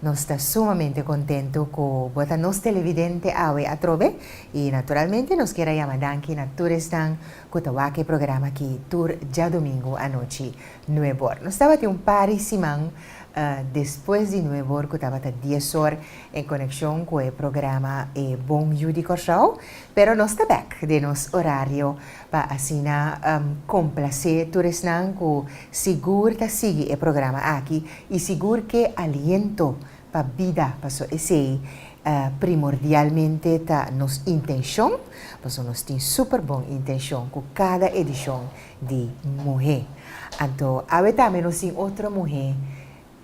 Nos ta sumamente contento cu bo ta nos televidente awe atrobe y naturalmente nos kier a yama danki na tur esnan cu ta wak e programa aki tur djadomingo anochi nuebor. Nos tabatin un par di siman despues di nuebor cu tabata diesor en coneccion cu e programa E Bon Yu di Corsow pero nos ta bek den nos horario pa asina complacé tur esnan cu sigur ta sigui e programa aki y sigur ke aliento pa bida, paso esey primordialmente ta nos intencion, paso nos tin super bon intencion cu cada edicion di Muhe. Anto awe tambe nos tin otro muhe.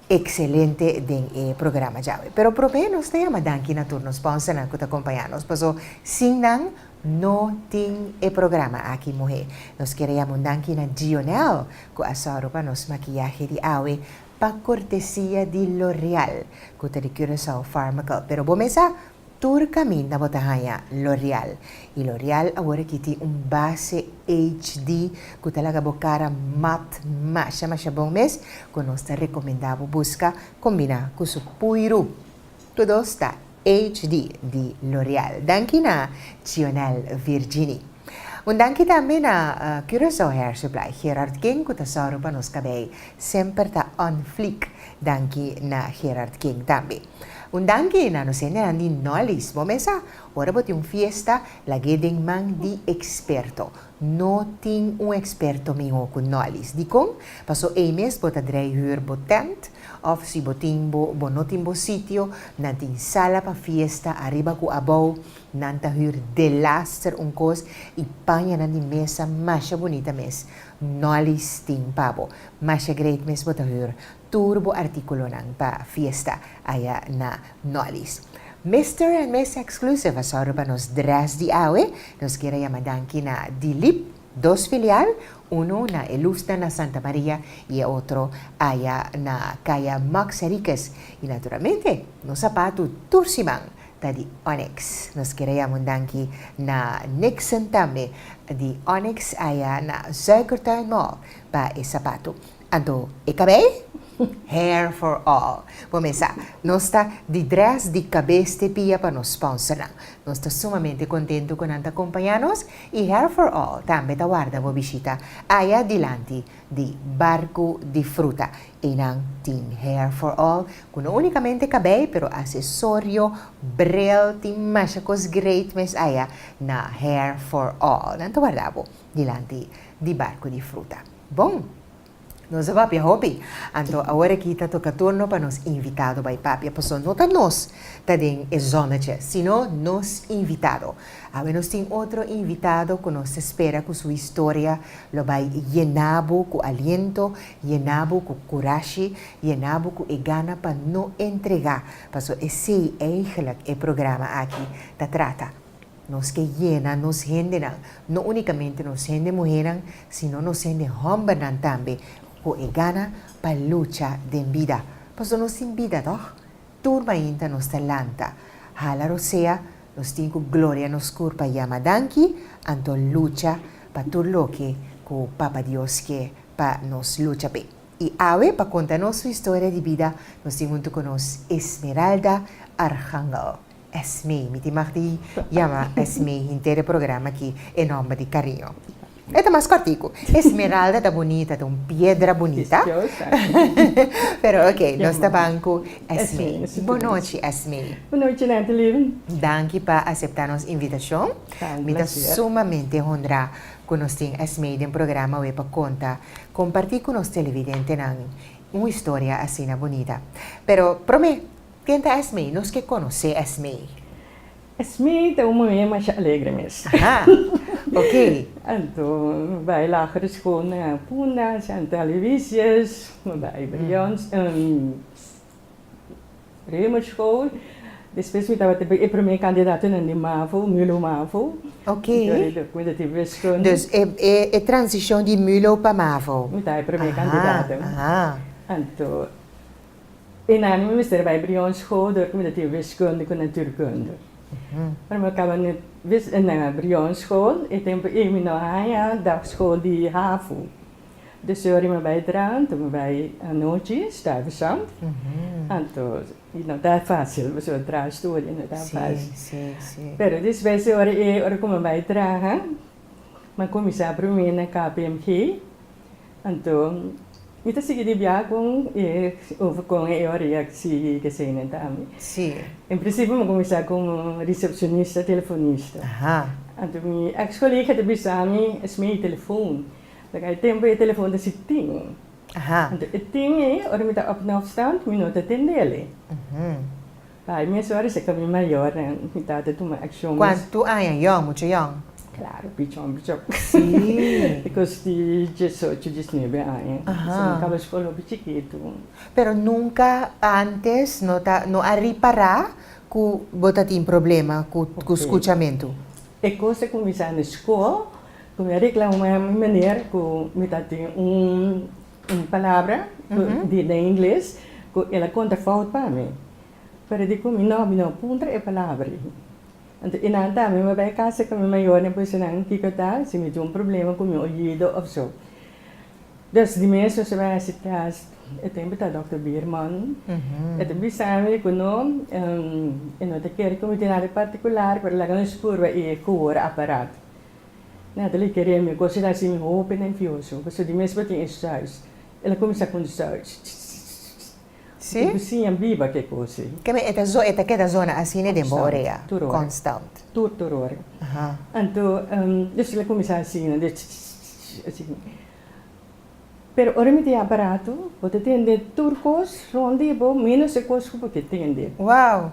excelente den e programa djawe. Pero promé nos ta yama danki na tur nos sponsornan cu ta compaña nos paso sin nan no tin e programa aki muhe. Nos quiere yama un danki na Dionel cu a soro pa nos maquillahe di awe pa cortesia di L'Oreal cu ta di Curaçao Pharmacal. Pero bo mesa Tur caminda bo ta haya L'Oreal. Y L'Oreal awor aki tin un base HD cu ta laga bo cara mat masha masha bon mes, cu nos ta recomenda bo busca combina cu su puiru. Todo sta HD di L'Oreal. Danki na Chionel Virginie. Un danki tambe na Curaçao Hair Supply, Gerard King cu ta zorgo pa nos cabei semper ta on fleek. Danki na Gerard King tambe. Un danki na nos hendenan di Nolly's. Bo mesa, ora bo tin un fiesta, lag'é den man di eksperto. No tin un eksperto mihó ku Nolly's. Dikon? Paso ei mes bo ta drei hür bo tènt, òf si bo tin bo bo no tin bo sitio, nan tin sala pa fiesta ariba ku abou, nan ta hür delaster un kos i paña nan di mesa masha bunita mes. Nolly's tin pa bo. Masha great mes bo ta hür. Tur bo artíkulonan pa fiesta aya na Nolly's. Mister and Miss Exclusive a sòru pa nos drès di awe. Nos kier a yama danki na Dilip, dos filial, unu na Elustna na Santa Maria i e otro aya na Kaya Maks Erikes. I naturalmente nos sapatu tur siman ta di Onyx. Nos kier a yama un danki na Nixon tambe di Onyx aya na Suikertuin Mall pa e sapatu. Anto, e kabei? Hair for all. Bo mesa, nos ta di dress di kabes te pia pa nos sponsornan. Nos ta sumamente kontentu ku nan ta kompañá nos i Hair for all tambe ta warda bo bishita aya dilanti di Barku di Fruta. Einan tin Hair for all ku no únikamente kabei pero asesorio, bril, tin masha kos great mes aya na Hair for all. Nan ta warda bo dilanti di Barku di Fruta. Bon! Nos a papia hopi, anto awor aki ta toka turno pa nos invitado bai papia, paso no ta nos ta den e zona dje, sino nos invitado. Awe nos tin otro invitado cu nos ta spera cu su historia lo bai yena bo cu aliento, yena bo cu curashi, yena bo cu e gana pa no entrega, paso esey eigelijk e programa aki ta trata. Nos ke yena nos hendenan, no únikamente nos hende muhénan, sino nos hende hòmbernan tambe, ku e gana pa lucha den bida, paso nos tin bida, tòg? Tur mainta nos ta lanta, hala rosea, nos tin ku gloria nos kurpa yama danki, anto lucha pa tur loke ku Papa Dios ke pa nos lucha p'e. I awe, pa konta nos historia di bida, nos tin huntu ku nos Esmeralda Archángel. Esmee, mi tin mag di yama Esmee hinter e programa aki, e nomber di cariño. E ta mas cortico. Esmeralda ta bonita, ta un piedra bonita. Pero ok, nos ta ban cu Esmee. Bon nochi Esmee. Bon nochi Nathalie. Danki pa acepta nos invitacion. Mi ta sumamente honra cu nos tin Esmee den programa awe pa conta, comparti cu nos televidentenan un historia asina bonita. Pero prome. Ken ta Esmee? Nos ke konosé Esmee. Esmee ta un muhé masha alegre mes. Aha. Okey. Anto mi bai lagere skol na Punda, Santa Aloysius, mi bai Brions, Rhema School. Despues mi tabata e primé kandidatonan di Mavo, Mulo Mavo. Okey. Dor e mi tabata wiskunde. Dus e e transishon di Mulo pa Mavo. Mi ta e primé kandidato. Aha, aha. Anto. E nami mi mester bai Briones Goder ku mi ta tin wiskunde ku naturkunde. Ora mi a kaba na Briones School, e tempu ei mi no a haña dagschool di hafu. Dus ora mi a bai Drenthe, mi bai anochi, Stuyvesant. Anto i no ta fásil, pasobra mi traha studia, no ta fásil. Pero despues di ora ei, ora ku mi a bai traha, mi a kuminsá promé na KPMG. Anto, mi ta sigui di biaha con e over con e ora ya si deseinen ta ami. Si. En principio mi cuminsa como recepcionista telefonista. Aha. Anto mi ex colega ta bisa mi esme e telefoon. Laga e tempo e telefoon ta si tin. Aha. Anto e tin ei ora mi ta op na afstand mi no ta tendele. Uhm. Pa e mes ora esaki mi mayornan mi tata tuma akshon mas. Kuantu aña yon, mucha yon? Klaru, pichon pichon. Sí. E kos di diesocho, diesnuebe aña. Ahan. Mi kaba skol hopi chikitu. Pero nunka antes no ta, no a ripará ku bo ta tin problema ku ku skuchamentu? E kos a kuminsá na skol, ku mi a reklamá mi maner ku mi ta tin un Un palabra di den ingles cu el a conta fout pa mi. Pero di cu mi no, mi no puntra e palabra i. Anto e nan ta, mi a bay casa ca mi mayornan pa bisa nan kico ta, si mi tin un problema cu mi oido of so. Des di mes nos a bay haci test, e tempo ta Dokter Bierman, e ta bisa mi cu no, e no ta kere cu mi tin nada particular, pero laga nos purba e coora aparato. Natalie kere mi gosi ta hasi mi hopi nervioso, pasobra di mes bo tin e shush. El a kuminsá ku un shush, ch-ch-ch-ch-ch-ch, mi tin ku siña biba ke kos ei. Keme e ta zo, e ta keda zona asina den bo orea? Konstant, tur ora. Konstant. Tur, tur ora. Aha. Anto, despues el a kuminsá asina, de ch-ch-ch-ch-ch, asina. Pero ora mi tin e aparato, bo ta tende tur kos rònt di bo, ménos e kos ku bo ke tende. Wow!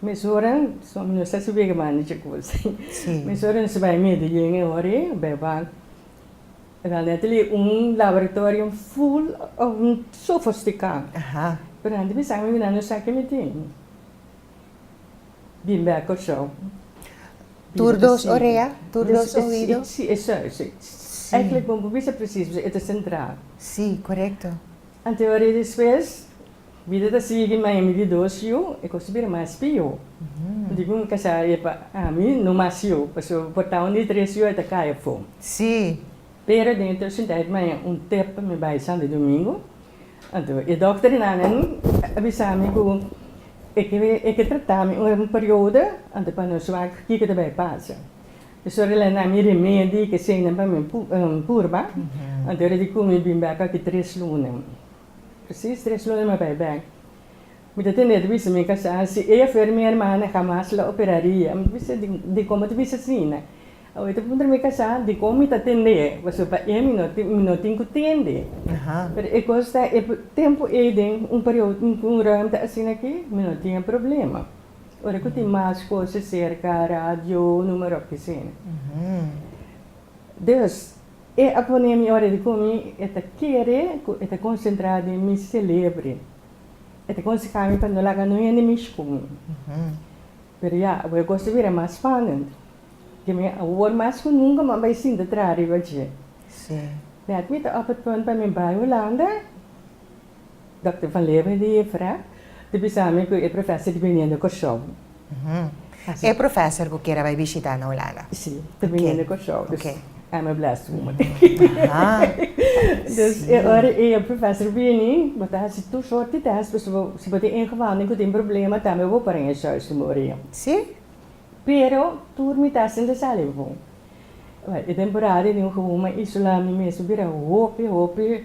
Mesoran, so nos ta sibi mandi chikos. Mesoran nos ta bai Medellin e ora ei, bai bank. Realmente li un laboratorium full sofosticá. Pero anto mi sa mina no sa ke mi tin. Bin bek Kòrsou. Tur dos orea? Tur dos oido? Si, e sa, e sa. Èklik bo bisa presis, e ta sentrá. Si, korekto. Anto e ora ei despues. Bida ta sigui ma hemi di dos yu e kos ta bira mas pió. Di ku mi kasá e pa ami no mas yu pasobra mi portá un di tres yu e ta kai afon. Sí. Pero den e tersintijt ma e un tep pa mi bai Santo Domingo. Anto e dokter di nana mi a bisa mi ku e ke e ke tratá mi un periodo anto pa nos wak kiko ta bai pasa. Pasobra el a na mi remedi i kesenan pa mi purba. Anto ora di ku mi bin bai pa aki tres luna. Presis tres luna mi bai bek. Mi ta tende ta bisa mi kasa, si e afer mi hermana hamas lo operaria. Mi ta bisa, dikon bo ta bisa asina? Awe ta puntra mi kasa, dikon mi ta tende? Pasobra pa e mi no tin ku tende. Pero e kos ta, e tempu ei den un periodo, un ruimte asina aki, mi no tin e problema. Ora ku tin mas kos cerca, radio, numerop, kisin. Dus. E a pone mi ora di komi, e ta kere ku e ta konsentrá den mi selebre. E ta konseha mi pa no laga no hende mishi ku mi. Pero ya, awor e kos ta bira mas spannend. Ke mi awor mas ku nunka mi a bai sinta traha riba dje. Mi ta òfer pon pa mi bai Hulanda Dòkter Van Leeuwen di Efra ta bisa mi ku e profèser ta biniendo Kòrsou. E profèser ku kier a bai bishitá na Hulanda. Si, ta biniendo Kòrsou. Dus I'm a blessed woman. Dus e ora e profèser bini, bo ta hasi tur sorti tèst, pasobra si bo tin ingewanden ku tin problema tambe bo por para den e shòish ku mi ora yon. Si? Pero tur mi ta hasi desanimá. Bèn, e temporada di un human isolá mi mes a bira hopi, hopi.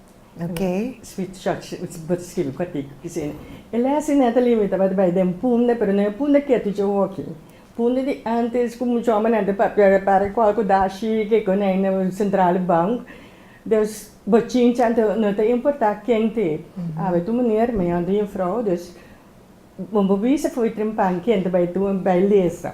Sweet George bo ta skirbi kuatico cu sende. E lesi ne ta limitaba di bay den punde, pero no e punde ketu dje hoki. Punde di antes cu muchu homber nan ta papia e para cual cu dashi kico ne ay na central di bank. Dus bo chincha anto no ta importa ken ta e. Awe tur meneer, meyon di juffrouw, dus bo bisa foe trimpan ken ta bay tur bay lesa.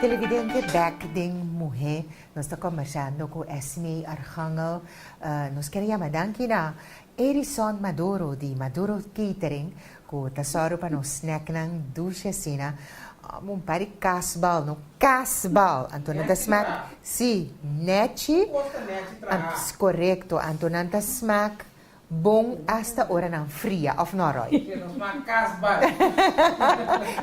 Televidente bek den muhé nos ta kombersando ku Esme Archangel. Nos kere yama danki na Erison Maduro di Maduro Catering ku ta sòru pa nos snèknan dushi asina. Un par di kasbal no, kasbal! Anto nan ta smak, si, nèchi, korekto, anto nan ta smak Bon asta ora nan fria, of no Roy? Ke nos na kasbal.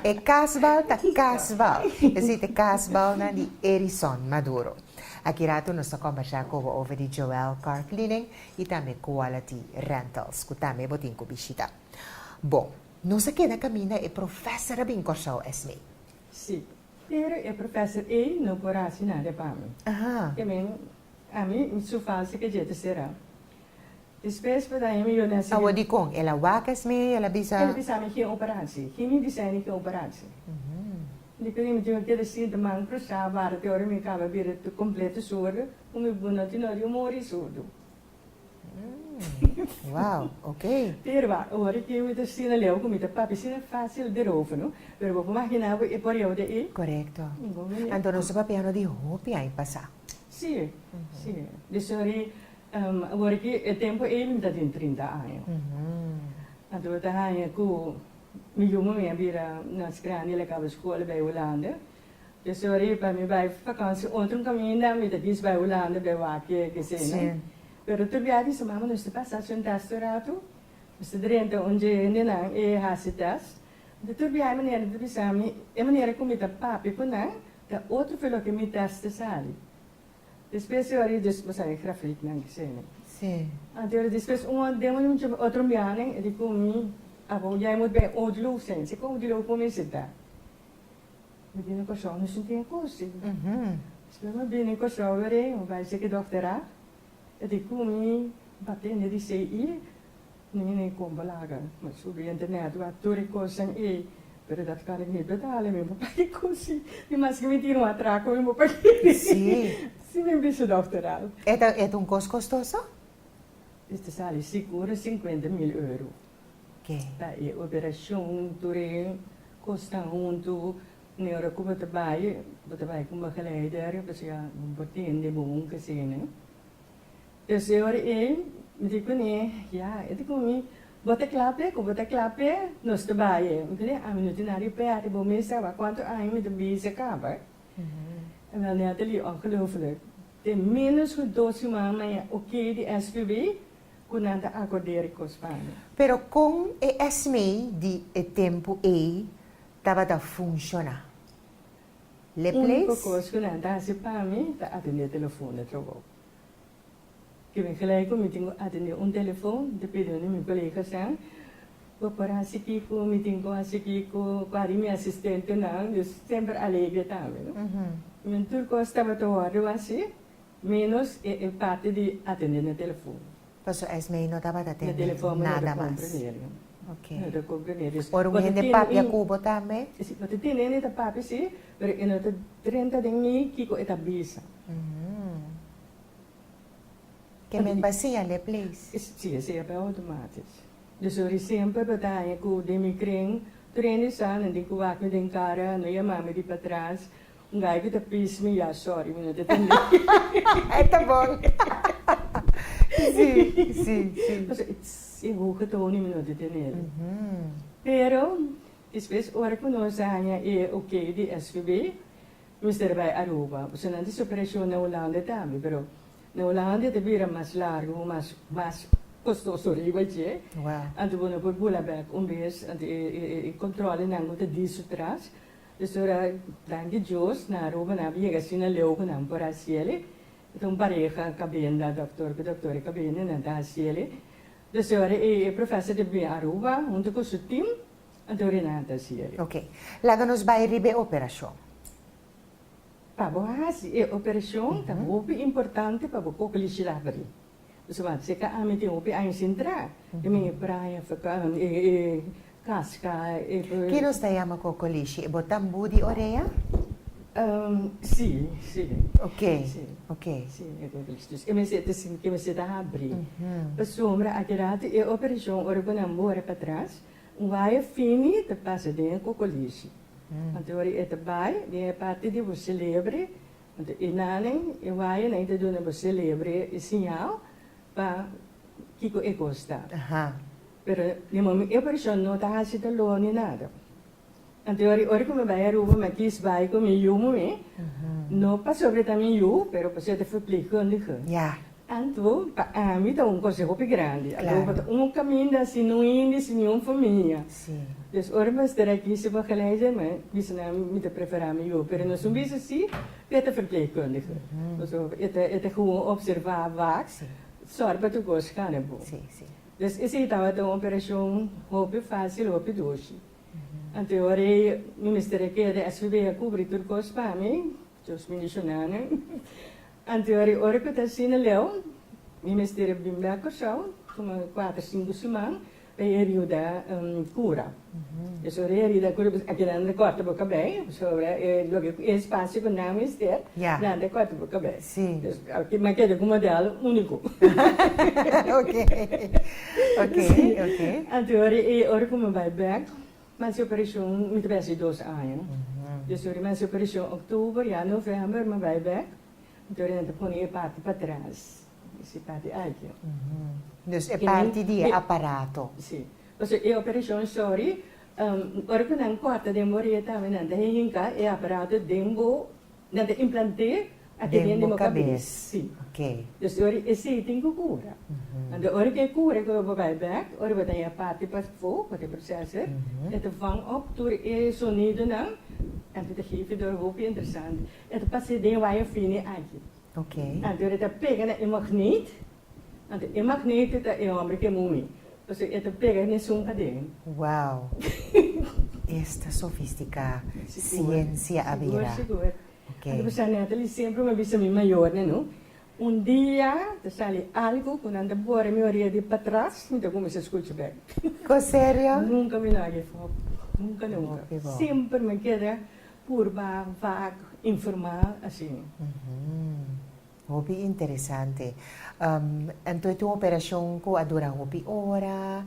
E kasbal ta kasbal. Esit e kasbalnan di Erison Maduro. Aki rato nos ta kombersá ku bo over di Joel Car Cleaning i tambe Quality Rentals ku tambe bo tin ku bishita. Bon, nos a keda kaminda e profèser a bin Kòrsou, Esmee? Sí, pero e profèser ei no por hasi nada pa mi. Ahan. Te men, ami su falsa kajeta será. Despues Brada Amy Yoné a sigui. Awo dikon? El a wak esmi y el a bisa. El a bisa mi geen operatie. Geen mi bisa eni geen operatie. Mi keda mi tin a keda así de man crusá wara te ora mi kaba bira tur completo surdo. Cu mi bbu no tin ora yo mori surdo. Wow! Oké. Pero a ora cu mi ta asina leu cu mi ta papia asina fácil di roofeno. Pero bo por magina bo e porieu de ei. Correcto. Anto nos a papiano di hopi aña pasá. Sí. Sí. Desori. Awor ki e tempu ei mi ta tin trinta aña. Anto mi ta haña ku mi yu muhé a bira mas grandi, el a kaba skol a bai Hulanda. Pesori pa mi bai vakansia otro un kaminda mi ta kis bai Hulanda bai wak e kesena. Pero tur biaha di mama nos ta pasa sunta aste un ratu, nos ta drenta un dje hendenan e hasi tèst. Anto tur biaha e manera ta bisa mi e manera ku mi ta papia ku nan ta otro fen loke mi tèst ta sali. Despues e ora di Jesús pasa e grafitnan di Señor. Anto e ora despues un ot demo di un chomba, otro mira nan, e di ku mi, Abo ya e mut bay otro lugu, Señor. Si kon otro lugu ku mi sita? Mi bini Kòrsou, no sinti e kosi. Despues mi bini Kòrsou loreño, mi bay cheki dòkter a, e di ku mi, N ta tende di sei i. Niño no e compa laga ma su be internet wak tur e cosnan ey pero dat cuando mi betala mi bo paga e cosi y mas que mi tin un atraco mi bo paga ey si si mi bisa dokter al. E ta e ta un cos costoso? Ey ta sali seguro cincuenta mil euro ke ta e operacion tur e cosnan hunto ni ora cu bo ta bay bo ta bay con begeleider pasobra bo tin di bo un kesina. E señor Ing. Mi di kuné, Ya, e di ku mi, Bo ta kla p'e ku bo ta kla p'e, nos ta bai e. Mi kuné, Ami no tin nada di pèrdè, bo mes sa bai kuantu aña mi ta bisa kaba. Ewèl Natalie, ongelooflijk, te ménos ku dos siman na e okey di SVB ku nan ta akord'é e rikos pa mi. Pero kon e sma di e tempu ei tabata funshoná? Le place. Úniko kos ku nan ta hasi pa mi ta atendé telefòn e trabou. Ke men gelijk ku mi tin ku atendé un telefòn ta pidi un di mi koleganan pa por hasi kiko mi tin ku hasi kiko, ku a di mi asistentenan. Dus semper alegre ta mi, no. Men tur kos tabata wòrdu wòs así, ménos e parti di atendé na telefòn. Paso esmei no tabata tende nada mas. Ok. Ora un hende papia ku bo tambe? Si, no ta tene hende ta papia si, pero e no ta drenta den mi kiko e ta bisa. Ke men pa siña lei pleis? Si, e siña pa outomatis. Dus un resempel pa daña ku den mi kren, prende sa nan di ku wak mi den kara, no yama mi di patras, N'gay cu ta pis mi ya, sorry, mi no ta tende. Ta bon. Sí, sí, sí. Pasobra e tss, e hoge tonen mi no ta tenel. Pero despues ora cu nos a haña e ok di SVB, mester bay Aruba. Pasobra nan ta haci operacion na Hulanda tambe, pero na Hulanda ta bira mas largo cu mas, mas costoso riba dje. Anto bo no por bula bek un bes, anto e controlenan bo ta di su tras. Pues ora danki Dios nan arubanan a bin yega así na leu cu nan por haciele. E ta un pareha cabenda, doctor cu doctora cabenda y nan ta haciele. Entonces e ora e professor ta bin Aruba hunto cu su team anto ora nan a ta haciele. Ok. Laga nos bay riba e operacion. Pa bo haci e operacion ta hopi importante pa bo cocolishi laberi. Zowat si ta ami tin hopi aña sin tra, e mi e praia fatal, e casca, e. Ki nos ta yama cocolishi? E bota mbu di orea? Si, si. Ok, ok. Si, e cocolishi. Dus e mester ta sinti, e mester ta habri. Pasobra aki ratu e operacion, ora cu nan bora patras, un waya fini ta pasa den e cocolishi. Anto ora e ta bay den e parti di bo celebre, Anto e nanan e wayanan e ta duna bo selebre e siñal pa kiko e kos ta. Pero di momen e porshon no ta hasi doló ni nada. Anto ora ora ku mi bai Aruba mi a kis bai ku mi yu muhé, no pasobra ta mi yu, pero pasobra ta verpleegkundige. Anto, pa ami ta un konseo hopi grandi. Adobo ta un kaminda si no hende si niun famia. Pues ora mi a stara aki segun geleidje, mi bisa nan mi ta prefera mi yu. Pero nos un bisa si ku e ta ferpleegkundige. Also e ta e ta gewoon opserva wak sòrt pa tur kos gana bo. Pues esei tabata un operashon hopi fásil, hopi doshi. Anto e ora ei mi mester a keda SVB a kubri tur kos pa mi. Dios bendiciona nan. Anteori ora cu ta asina Leo, mi mester a bini bek Curaçao, tuma cuater, cinco siman pa e herida cura. Pasobra e herida cura pasobra aki nan ta corta bo cabei, pasobra e loke cu e espacio cu nan mester, nan ta corta bo cabei. Si. Pues aki nan keda cu model unico. Oke, oke, oke. Anteori e ora cu mi bay bek. Men su pensioen mi ta besi dos aña. Yo suri men su pensioen octuber ya november mi bai bek. Entonces nan ta pone e parti patras. Pues e parti aki. Dus e parti di e aparato. Si. Pasobra e operacion sorry ora cu nan corta den bo origen tambe nan ta hinca e aparato den bo. Nan ta implant'é aden den bo kabes, sí. Dus di ora e sei tin ku kura. Anto ora ku e kura ku bo bai bèk, ora bo ta haña parti pafó, ku ta e processor, e ta vang òp tur e sonidonan, anto e ta hevi dor, hopi interesante. E ta pas'é den waya fini aki. Anto ora e ta pega na e magneet, Anto e magnete ta e hombre ke moe, pasobra e ta pega un esun aden. Wow! Esta sofisticá ciencia a bira. Sigur, sigur. Anto mi sa nèta li semper mi a bisa mi mayornan, no. Un dia ta sali algu ku nan ta bora mi orea di patras, mi ta kuminsá skucha bèk. Ko serio? Nunka mi no a give up. Nunka, nunka. Hopi bon. Semper mi a keda purba, vak, informá, asin. Hopi interesante. Anto e ta un operacion cu a dura hopi ora?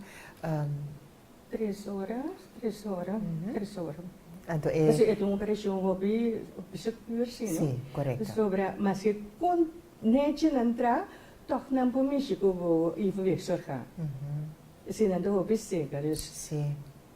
Tres ora, tres ora, tres ora. Anto e. Pasobra e ta un operacion hopi secuur, si no? Si, correcto. Pasobra, ma si con nechi nan tra, toch nan por mishi cu bo ivo week zorga. Pasobra nan ta hopi seca, dus. Si.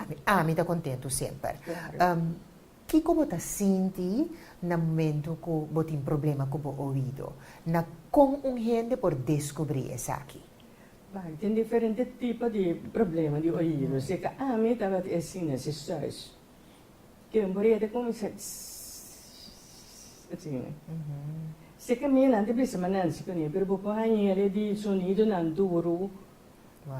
Ami, ami ta kontentu semper. Um, kiko bo ta sinti na momentu ku bo tin problema ku bo oido? Na kon un hende por deskubrí esaki? Bai, tin diferente tipo di problema di oido. Si ta ami tabata e asina, si sois ke un buri e ta kuminsá ssss asina. Si kaminda nan ta bisa, ma Nancy, kuné, pero bo por haña el e di sonidonan duru.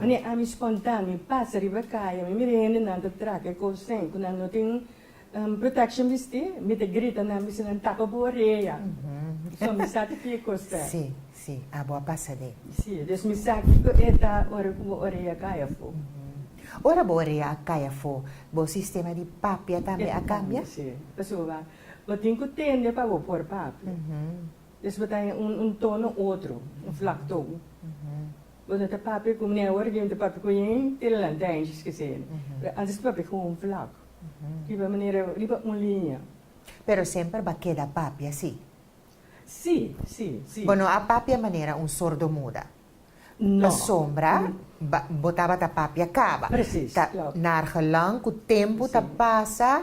Mane ami sponta mi pasa riba kaya mi mira hendenan ta traha e kousen ku nan no tin protekshion bistí mi ta grita nan bisa nan tapa bo orea so mi sa ta ki kos ta. Sí, sí, abo a pasa de. Sí, des mi sa kiko e ta ora ku bo orea kaya afó. Ora bo orea a kaya afó bo sistema di papia tambe a kambia? Sí, pasobra bo tin ku tende pa bo por papia. Des bo ta un tono otro, un flaktoon. Bo no ta papia ku mi awor di un ta papia ku yin te lanta angel's ke se ene. Pero antes mi papia ku un flaku. Riba manera riba un liña. Pero semper bo a keda papia si? Si, si, si. Bo no a papia manera un sordo muda. No. Pasombra bo tabata papia kaba. Presis, klopt. Ta naargelang ku tempu ta pasa.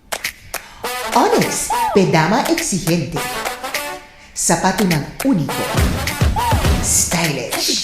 Onyx, p'e dama exigente. Sapatunan único, stylish.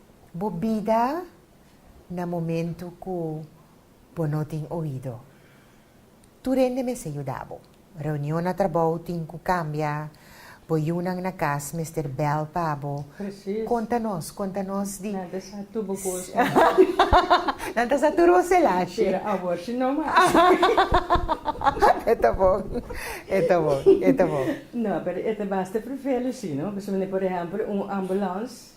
Bo bida na momentu ku bo no tin oido. Tur hende mester yuda bo. Reunion na trabou tin ku kambia, bo yunan na kas mester bèl pa bo konta nos, konta nos di. Nan ta sa tur bo kos mas. Nan ta sa tur bo selashi. Pero awor si no mas. E ta bon, e ta bon, e ta bon. No, pero e ta basta prefele si, no? Pasobra, por ehèmpel, un ambulance.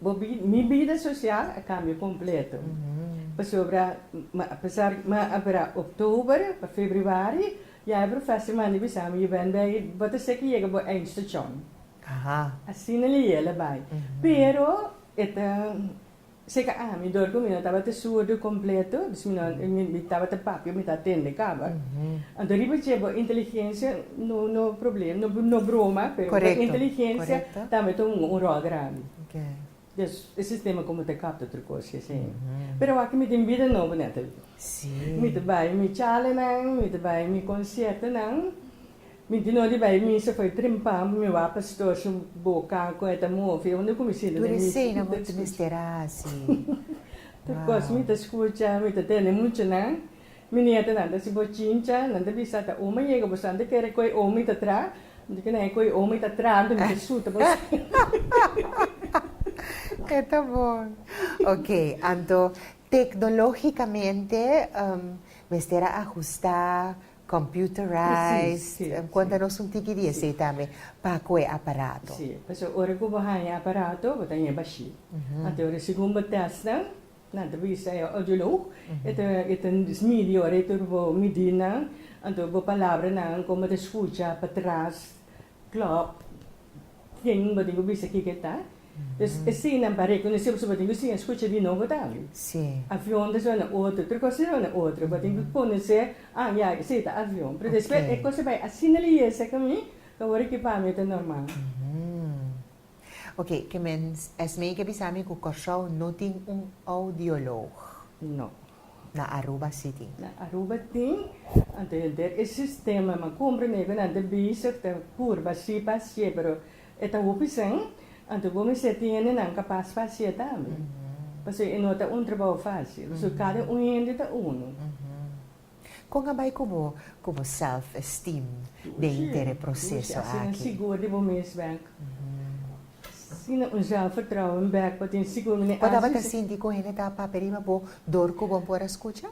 Bo bida, mi bida sosial a kambia kompleto. Pasobra a pesar mi a bira oktober pa febribari, ya e profes di manda bisa mi, Yu Ben Ben, i bo ta seki yega bo eindstashon. Asina el a yela bai. Pero e ta seka ami dor ku mi no tabata surdu kompleto, dus mi no, mi tabata papia, mi ta atende kaba. Anto riba dje bo inteligensia No problem, no broma, pero bo inteligencia tambe ta un rol grandi. Dus e sistema como ta kap ta trucó si asina. Pero awor cu mi tin bida nobo Natalie, mi ta bay mi chalanan, mi ta bay mi conciertonan, mi tin odi bay misa fo'i trempa, mi wak pastor su boca con e ta move, unda cu mi sinta den misa mi ta escucha tur cos mi ta escucha, mi ta tende muchanan. Mi nietenan ta si bo chincha, nan ta bisa ta Oma yega bosan ta kere koe Omi ta tra, manti ke nan e koe Omi ta tra anto mi ta suta bosan. E ta bon. Ok, anto tecnologicamente mester a ajusta, computerized, cuanta nos un tiki di esey tambe pa koe aparato. Si, pasobra ora cu bo haya aparato bo ta heba shi. Anto ora segun bo testnan Na entrevista e odio lo hoek e ta e ta smidi ora e tur bo midi nan anto bo palabranan como ta scucha pa tras club ken bo tin cu bisa kico ta dus esina pa reconocibo si bo tin cu siña escucha di nobo tambe avion ta sona otro tur cos ta sona otro bo tin cu conoce ah ya esey ta avion pero despues e cos ta bay asina leyesa ca mi ta worde ki pa mi ta normal. Ok, ke men esmei ke bisa mi ku Kòrsou no tin un audiològ. No. Na Aruba si tin. Na Aruba tin, anto e den e sistema man kon primeku nan ta bezig ta purba si pa hasié pero e ta hopi sen, anto bo mester tiene nan kapas pa hasié tambe. Pasobra e no ta un trabou fásil, pasobra kada un hende ta unu. Kon a bai ku bo ku bo self-esteem den inter e proseso aki? Bo tabata sinti ku hende ta papia riba bo dor ku bo por a skucha?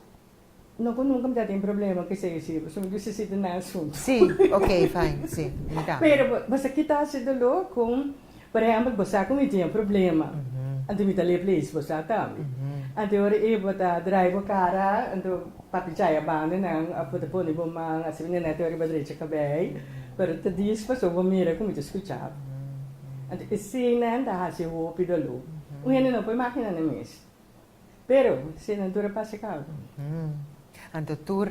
Si, ok, fine, si, mi tambe. Por ehempel, bo sa ku mi tin e problema, anto mi ta lep lees bo sa tambe. Anto ora ei bo ta drai bo kara, anto papia chai a banda nan òf bo ta pone bo man asina na nèt ora bo a drecha kabei, pero ta dis paso bo mira ku mi ta skucha bo. Anto eseinan ta hasi hopi dolor. Un hende no por imaginá nan mes. Pero si nan tur a pasa ku algu. Hm. Anto tur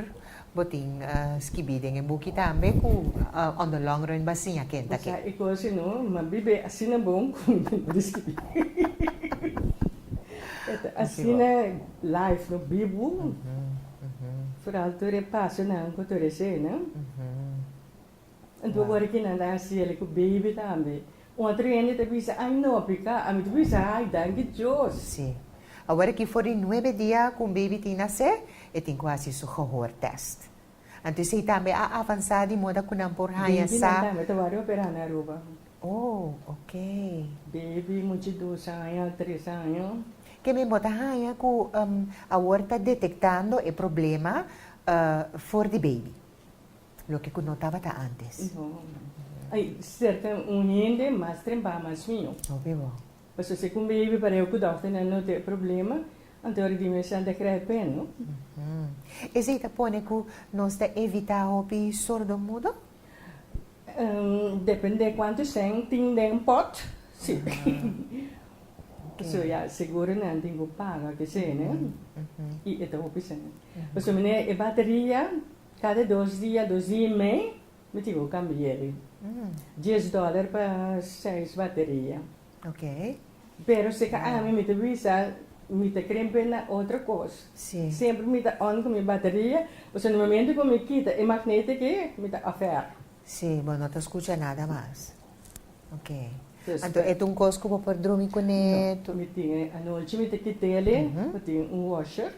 bo tin skibí den e buki tambe ku on the long run bo a siña ken ta ken. Sa e kos i no, ma bibe asina bon ku mi no di skibí. E ta asina life no bibu, foral tur e pasonan ku tur esena. Anto ora ki nan ta haciele cu baby tambe, un atro hende ta bisa, ay no pica, ami ta bisa, ay danki Dios. Sí. Awor aki for di nuebe dia cu un baby tin nacé, e tin cu haci su gehoor test. Anto esey tambe a avansa di moda cu nan por haña sa. Babynan tambe ta worde operá na Aruba. Oh, ok. Baby mucha dos aña, tres aña. Ke men bo ta haña cu awor ta detectando e problema for di baby? Loke ku no tabata antes. No. Ai serka un hende mas trempa mas mió. Obi bo. Paso si ku un baby pareu ku dòkternan no ta e problema, anto ora di mesha ta kre pen, no? Esei ta pone ku nos ta evitá hopi sordomudo? Depende kuantu shèn tin den un pòt, si. Paso ya seguro nan tin ku paga kesei, ne? I e ta hopi shèn. Paso mi ne e bateria Cada dos dia, dos dia y mei, mi tin cu cambi'e di dies dollar pa seis bateria. Pero si ca ami mi ta bisa mi ta cri bin na otro cos, semper mi ta on cu mi bateria, pasobra na momento cu mi kita e magnetic y mi ta ofer. Si, bo no ta scucha nada mas. Ok. Anto e ta un cos cu bo por drumi cun'e? No, mi tin, anochi mi ta kit'e, mi tin un washer.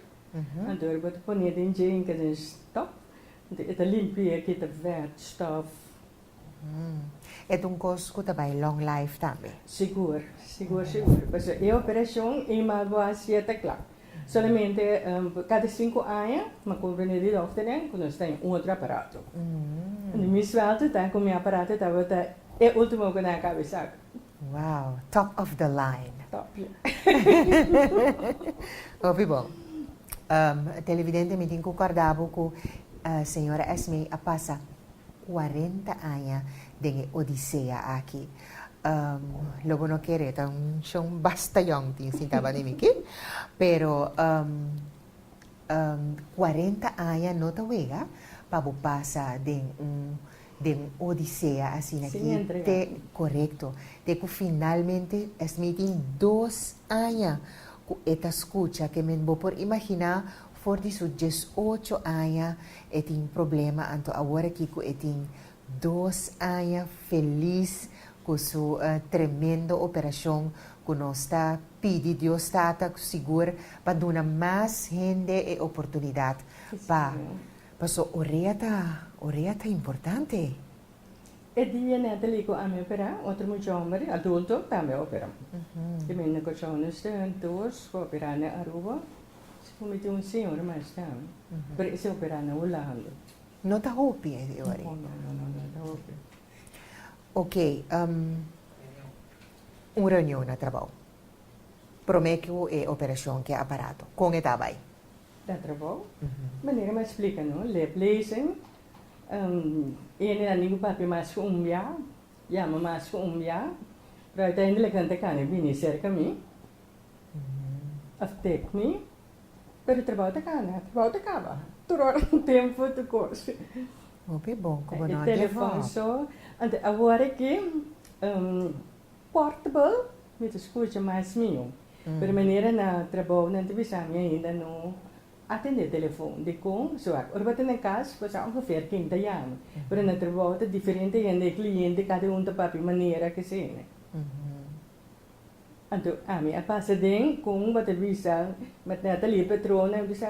Anto bo ta pone den dje inka den stòp. Anto e ta limpia e kita vèrt stòf. E ta un kos ku ta bai long life tambe? Sigur, sigur, sigur. Pasobra e operashon e mas bo hasi e ta kla. Solamente kada sinku aña mi kumpra ne'e di dòkternan ku nos ta den un otro aparato. Mi suèlte ta ku mi aparato tabata e último ku nan a kabesá. Wow, top of the line. Top ya. Hopi bon. Um, televidente, mi tin ku kòrda bo ku señora Esme a pasa cuarenta aña den e odisea aki. Um, lo bo no kere, ta un shon basta yòn tin sinta banda mi ki. Pero um, um, cuarenta aña no ta wega pa bo pasa den un Den Odisea asina ki te korekto. Te ku finalmente esmi tin dos aña ku e ta skucha kemen. Bo por imaginá for di su dies ocho aña e tin problema anto awor aki ku e tin dos aña felis ku su tremendo operashon ku nos ta pidi Dios Tata sigur pa duna mas hende e oportunidat pa Paso orea ta orea ta importante. E dia nè ta lico ami operá otro mucha homber adulto tambe a operá. Te mende cochao no este hun tours pa operá nè Aruba si por mi tin un señor mas tambe pero ese operá nè Hulanda. No ta hopi e dia wari. No no no no ta hopi. Ok un reunion na trabao prome cu e operacion ke aparato con e ta bai? Ta trabou. Manera mi a splika no, lep lezen. E hende nan nigu papia mas ku un bia, yama mas ku un bia. Pero ai ta hende lakinan ta kana e bini serka mi òf tep mi. Pero trabou ta kana, trabou ta kaba. Tur ora un tempu, tur kos. Hopi bon ku bo no a give up. Anto awor aki. Portable mi ta scucha mas mio pero manera na trabou nan ta bisa mi ainda no atende telefon dicon so aki ora bo ta na cas bo sa ongeveer ken ta yama pero na trabou ta diferente hende e cliente cada un ta papia manera kesende anto ami a pasa den con bo ta bisa met na ta lee patronan bisa.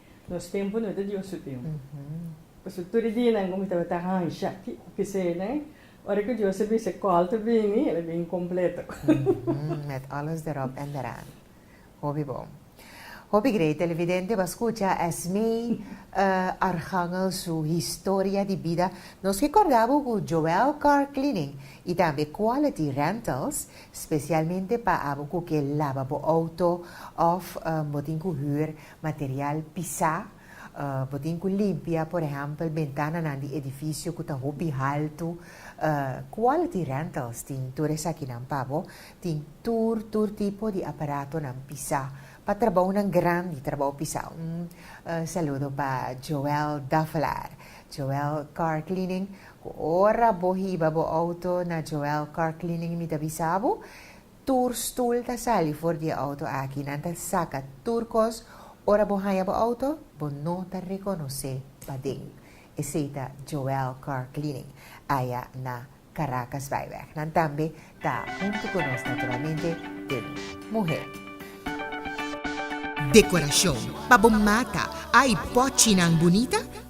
Nos tempu no ta Dios su tempu. Pasobra tur e dianan ku mi tabata hansha aki ku kisenan, ora ku Dios a bisa kòl ta bini, el a bini kompleto. Mèt alles deròp èn dèràn. Hopi bon. Hopi grei televidente bo a skucha Esmee Archangel su historia di bida. Nos ke kòrda bo ku Joel Car Cleaning i tambe Quality Rentals spesialmente pa abo ku ke laba bo outo òf bo tin ku hür Material pisá, Bo tin ku limpia, por ehèmpel, bentananan di edifisio ku ta hopi haltu. Quality Rentals tin tur esakinan pa bo. Tin tur, tur tipo di aparatonan pisá pa trabounan grandi, trabou pisá. Un saludo pa Joel Davelaar, Joel Car Cleaning, ku ora bo hiba bo outo na Joel Car Cleaning mi ta bisa bo. Tur stoel ta sali for di e auto aki. Nan ta saca tur cos. Ora bo haya bo auto, bo no ta reconoce paden. Esey ta Joel Car Cleaning, aya na Caracasbijweg. Nan tambe ta hunto cu nos naturalmente den Muhé. Decoracion pa bo mata, ay pochinan bunita?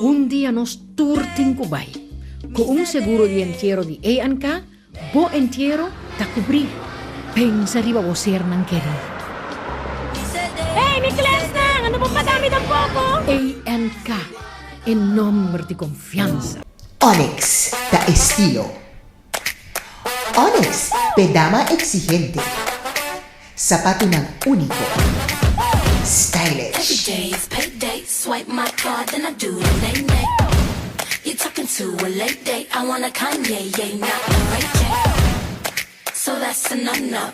Un dia nos tur tin ku bai. Ku un seguro di entiero di ANK, bo entiero ta kubrí. Pensa riba bo sernan kerí. Hey mi klèsnan, a no por pagá mi tampoko! ANK, e nòmber di konfiansa. Onyx ta estilo. Onyx, p'e dama exigente. Sapatunan único, stylish.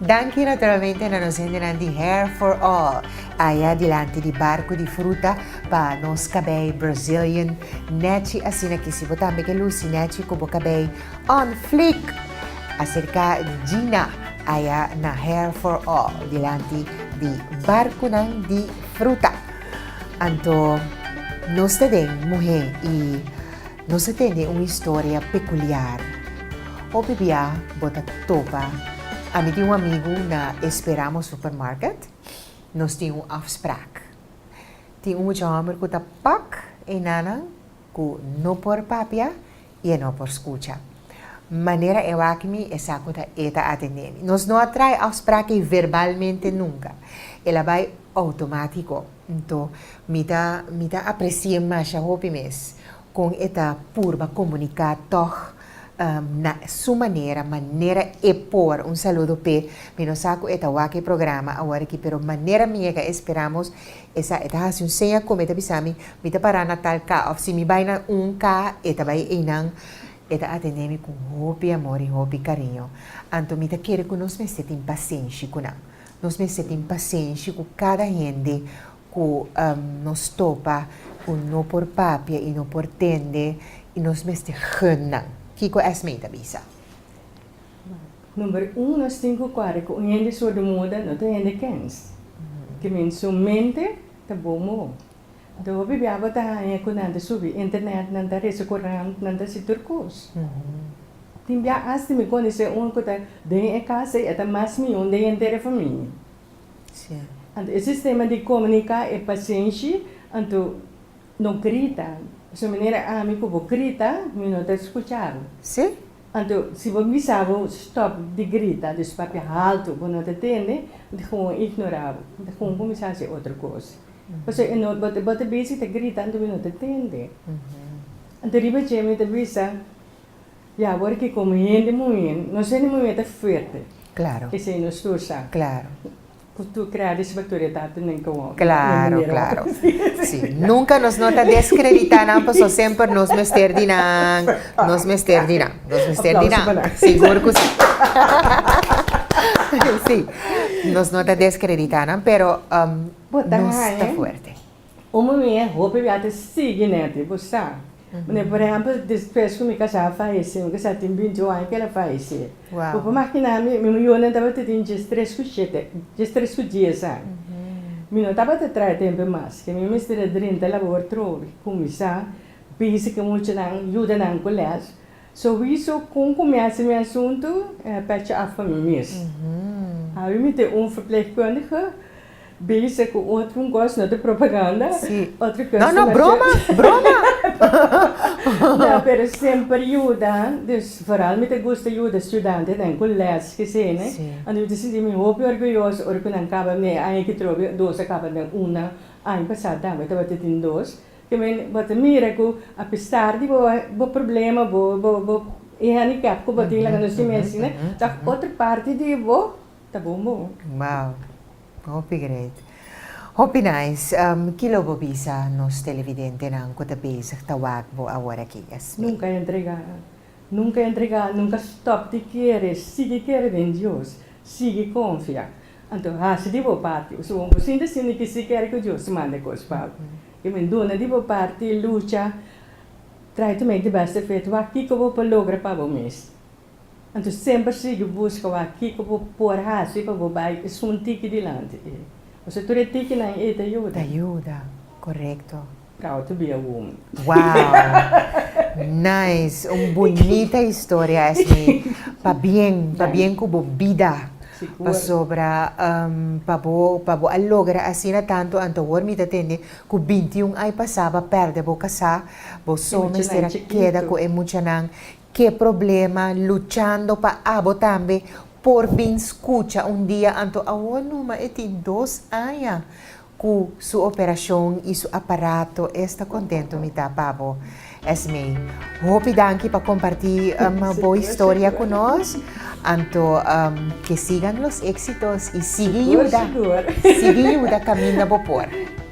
Danki naturalmente na nos hendenan di Hair for All, aya dilanti di barku di fruta pa nos kabei Brazilian nèchi asina ki si bo tambe ke lusi nèchi ku bo kabei on fleek. Aserka Gina aya na Hair for All dilanti di barkunan di fruta. Anto nos ta den muhé i Nos a tene un historia pekuliar. Hopi bia bo ta topa, Ami tin un amigu na e Speramo supermarket. Nos tin un afsprak. Tin un mucha hòmber ku ta pak e nanan ku no por papia i e no por skucha. Manera e wak mi, e sa ku ta e ta atendé mi. Nos no a trai afsprak ei verbalmente nunka. El a bai outomátiko. Nto, mi ta mi ta apresié masha hopi mes kon e ta purba komuniká tòg na su manera, manera e por. Un saludo p'e. Mi no sa ku e ta wak e programa aworakí, pero manera mi e ka esperá mos e sa. E ta hasi un seña ku mi, e ta bisa mi, mi ta pará na tal ka òf si mi bai na un ka e ta bai einan. E ta atendé mi ku hopi amor i hopi kariño. Anto mi ta kere ku nos mester tin pasenshi ku nan. Nos mester tin pasenshi ku kada hende ku nos topa ku no por papia i no por tende i nos mester gun nan. Kiko Esmee ta bisa? Number un, nos tin ku kuadra ku un hende sordomuda no ta hende kens. Te men su mente ta bon moho. Do bibiaba ta haña ku nan ta subi internet, nan ta rese kurant, nan ta hasi tur kos. Tin bia asta mi konosé un ku ta den e kasa i e ta mas mió den e henter e famia. Anto e sistema di komuniká e pasenshi, anto no grita. Pasobra manera ami ku bo grita mi no ta skuchabo. Anto si bo bisa bo stòp di grita, di papia haltu, bo no ta tende, mi ta gewoon ignorabo, mi ta gewoon kuminsá hasi otro kos. Pasobra e no bo ta bisa y ta grita anto mi no ta tende. Anto riba dje mi ta bisa ya awor ke como hende muhe, nos hende muhe ta fuerte esei nos kusa ku tur krea desautoritatenan kawao den manera wak ta bisa. Si nunka nos no ta descredita nan pasobra semper nos mester di nan, nos mester di nan, nos mester di nan, sigur ku si. Si nos no ta descredita nan pero. Bo ta haña. Un muñe hopi bia ta sigui neti, bo sa. Mane, por ehèmpel, despues ku mi kasá a falesé, mi kasá tin binti un aña ku el a falesé. Bo por makiná mi, mi muñonan tabata tin dies tres ku shete, dies tres ku dies aña. Mi no tabata traha tempu mas, ke mi mester a drenta labor trobe, kuminsá bisa ku muchanan, yuda nan ku lès. Sorriso con cu mester mi asunto pecha af pa mi mes. Awe mi tin un verpleegkundige bezig cu otro un cos, no ta propaganda, otro cos comercial. No, no, broma, broma. No, pero semper yuda, dus vooral mi ta gusta yuda estudianten den cu les kesene, anto mi ta sinti mi hopi orguyoso ora cu nan caba mi e aña cu trobe, dos a caba den una, aña pasado tambe tabatin tin dos, Tambe bo ta mira ku apesar di bo bo problema bo bo e handicap ku bo tin laga nos di mi asina tòg otro parti di bo ta bon bon. Wow hopi great hopi nice kilo bo bisa nos televidentenan ku ta bezig ta wak bo awor aki esei? Nunka a entrega Nunca entrega, nunca stop di kere, sigui kere den Dios, sigui confia. Anto haci di bo parti, suguon bo sinti asina ki si kere cu Dios ta manda e cos pa bo. Yo men duna di bo parti, lucha, try to make the best of it, wak kico bo por logra pa bo mes. Anto semper sigui busca wak kico bo por haci pa bo bay esun tiki dilanti. Pasobra tur e tikinan ey ta yuda. Ta yuda, corecto. Tao to be a woman. Wow! Nice! Un bunita historia esei. Pabien, pabien cu bo bida. Pasobra pa bo, pa bo a logra asina tanto antowoord mi ta tende cu bintiun ai pasaba perde bo casá, bo so mester a keda cu e muchanan Ke problema luchando pa abo tambe por bin skucha un dia anto awor numa e tin dos aña ku su operashon i su aparato esta kontentu mi ta pa bo Esmee hopi danki pa kompartí bo historia ku nos. Anto ke sigan los eksitos i sigui yuda, sigui yuda kaminda bo por.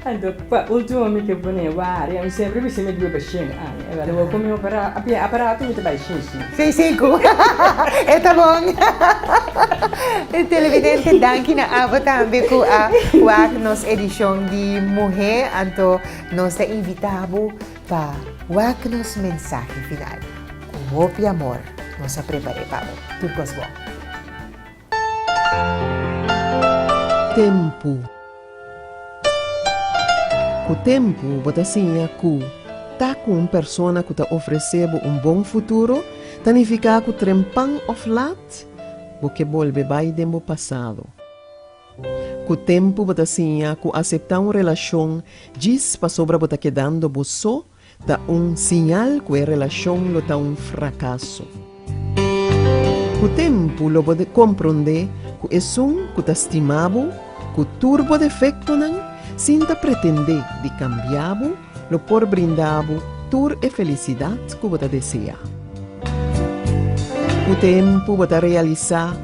Anto pa ultimo mi ke pone wari, mi sempri bis'é mi due pa shen aña, e wari bo ku mi opera, apia aparato mi ta bai shishi. Sei siku. E ta bon. Televidente danki na abo tambe ku a wak nos edishon di Muhé, anto nos ta invitá bo. Pa wak nos mensahe final. Ku hopi amor nos a prepar'é pa bo. Tur kos bon. Tempu Ku tempu bo ta siña ku ta ku un persona ku ta ofresé bo un bon futuro ta nifiká ku trempan òf lat bo ke bolbe bai den bo pasado. Ku tempu bo ta siña ku aseptá un relashon djis pasobra bo ta kedando bo so ta un siñal ku e relashon lo ta un frakaso. Ku tempu lo bo komprondé ku esun ku ta stima bo ku tur bo defektonan sin ta pretendé di kambia bo, Lo por brinda bo tur e felicidad cu bo ta desea. Cu tempu bo ta realisa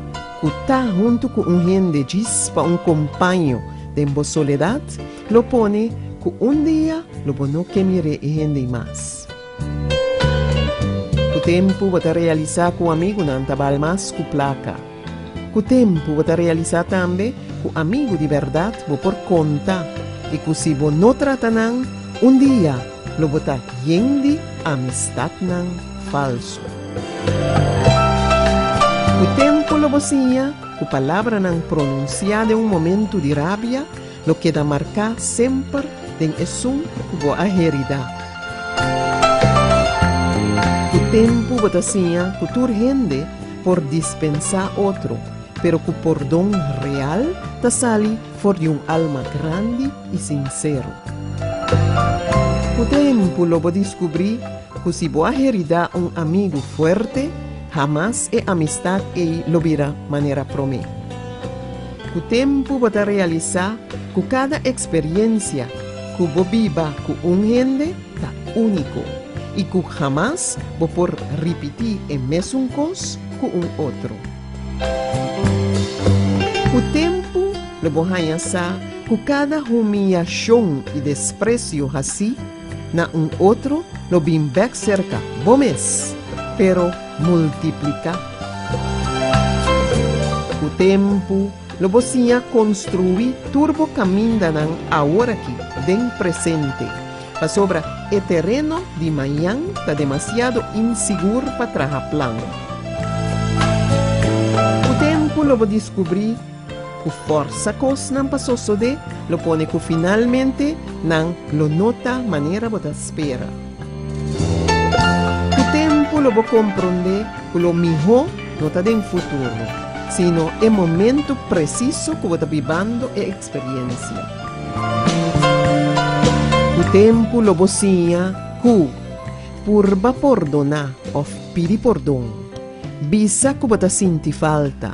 cu ta hunto cu un hende djis pa un compaño den bo soledad lo pone cu un dia lo bo no ke mir'e e hende mas. Cu tempu bo ta realisa cu amigunan ta bal mas cu placa. Ku tempu bo ta realisá tambe ku amigu di bèrdat bo por konta i ku si bo no trata nan, un dia lo bo ta yen di amistatnan falsu. Ku tempu lo bo siña ku palabranan pronunsiá den un momentu di rabia, Lo keda marká semper den esun ku bo a heridá. Ku tempu bo ta siña ku tur hende por dispensá otro, pero ku pordon real ta sali for di un alma grandi i sinsero. Ku tempu lo bo diskubrí ku si bo a heridá un amigu fuerte, hamas e amistat ei lo bira manera promé. Ku tempu bo ta realisá ku kada eksperiencia ku bo biba ku un hende ta úniko i ku hamas bo por ripití e mesun kos ku un otro. Ku tempu lo bo haña sa ku kada humiyashon i despresio hasí na un otro lo bin bèk serka bo mes, pero multipliká. Ku tempu, lo bo siña konstruí tur bo kamindanan aworakí, den presente, pasobra e tereno di mañan ta demasiado insigur pa traha plan. Ku tempu lo bo diskubrí. Cu forsa cosnan pa sosode lo pone cu finalmente nan lo no ta manera bo ta spera. Cu tempo lo bo compronde cu lo miho no ta den futuro, sino e momento preciso cu bo ta bibando e experiencia. Cu tempo lo bo siña cu purba pordona of pidi pordon, bisa cu bo ta sinti falta,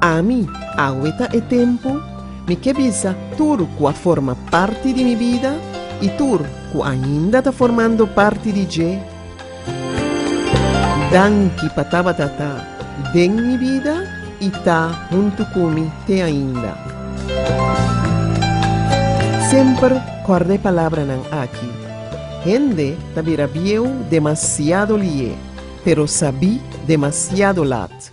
Ami, awe ta e tempu, mi ke bisa tur ku a forma parti di mi bida i tur ku ainda ta formando parti di dje, danki pa tabata ta den mi bida i ta huntu ku mi te ainda. Semper kòrda e palabranan aki, Hende ta bira bieu demasiado lié, pero sabí demasiado lat.